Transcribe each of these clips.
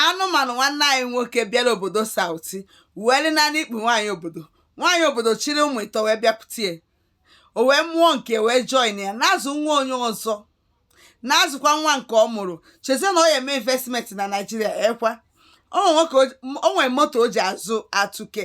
anụmanụ nwanne anyị nwoke bịara obodo sauti wee dị naanị ikpu nwaanyị obodo nwaanyị obodo chịrị ụmụ ịtọ wee bịakwute ya o wee mụọ nke wee join ya na-azụ nwa onye ọzọ na-azụkwa nwa nke ọ mụrụ chezie na ọ ya-eme investment na naijiria ekwa o nwere moto o ji azụ atụke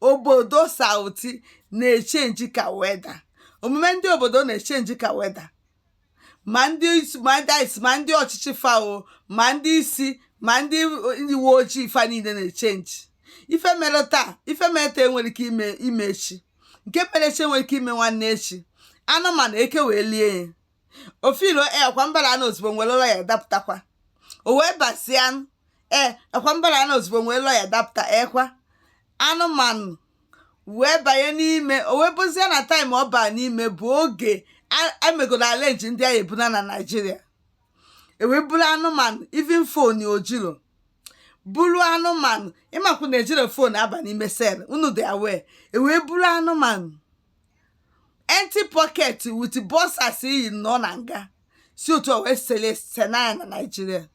obodo sauti na-echenji ka weather omume ndị obodo na-echenji ka weather ma ndị ọchịchị fa o ma ndị isi ma ndị uwe ojii fa niile na-echenji ife mere taa ife mere taa enwere ike ime echi nke mere echi enwere ike ime nwanne echi anụmanụ eke wee lie ya ofilo e akwa mbara anụ ozugbo nwere ụlọ ya dapụtakwa o wee basịa anụ ee akwa mbara anụ ozugbo nwere ụlọ ya dapụta ekwa anụmanụ wee banye n'ime o wee bụzie na time ọ baa n'ime bụ oge a- emegoro arrange ndị a ga-ebuna na naijiria e wee buru anụmanụ even phone o jiro buru anụmanụ ịmakwu na ejiro phone aba n'ime cell unu dị aware e wee buru anụmanụ empty pocket with boxers i yi nọ na nga si otu a wee sele sena ya na naijiria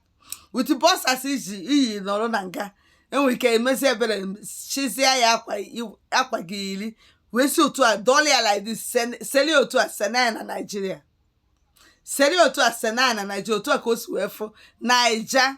with boxers i yi nọrọ na nga e nwere ike emezi ebere chizia ya akwa i- akwa ga-eyiri wee si otu a dọla ya like this sen- seli otu a sena ya na naijiria seli otu a sena ya na naijiria otu a ka o si wee fụ naija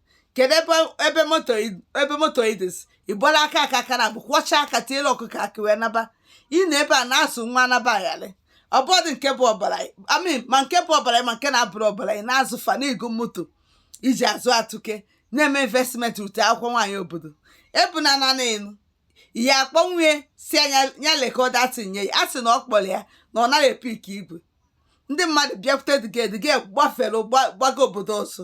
kedu ebe ebe moto i- ebe moto idis ị gbara aka aka akara bụ kwọcha aka tiere ọkụkọ akị wee naba ị nọ ebe a na-azụ nwa naba ayalị ọbọdụ nke bụ ọbara I mean ma nke bụ ọbara ma nke na-abụrọ ọbara ị na-azụ fa na-ego moto i ji azụ atụke na-eme investment ute akwụkwọ nwaanyị obodo ebuna nanị enu ihe akpọnwue si anya ya record tinye ya a sị na ọ kpọrọ ya na ọ naghị epik igwe ndị mmadụ bịakwute dịgedịge gbafere gba- gbaga obodo ọzọ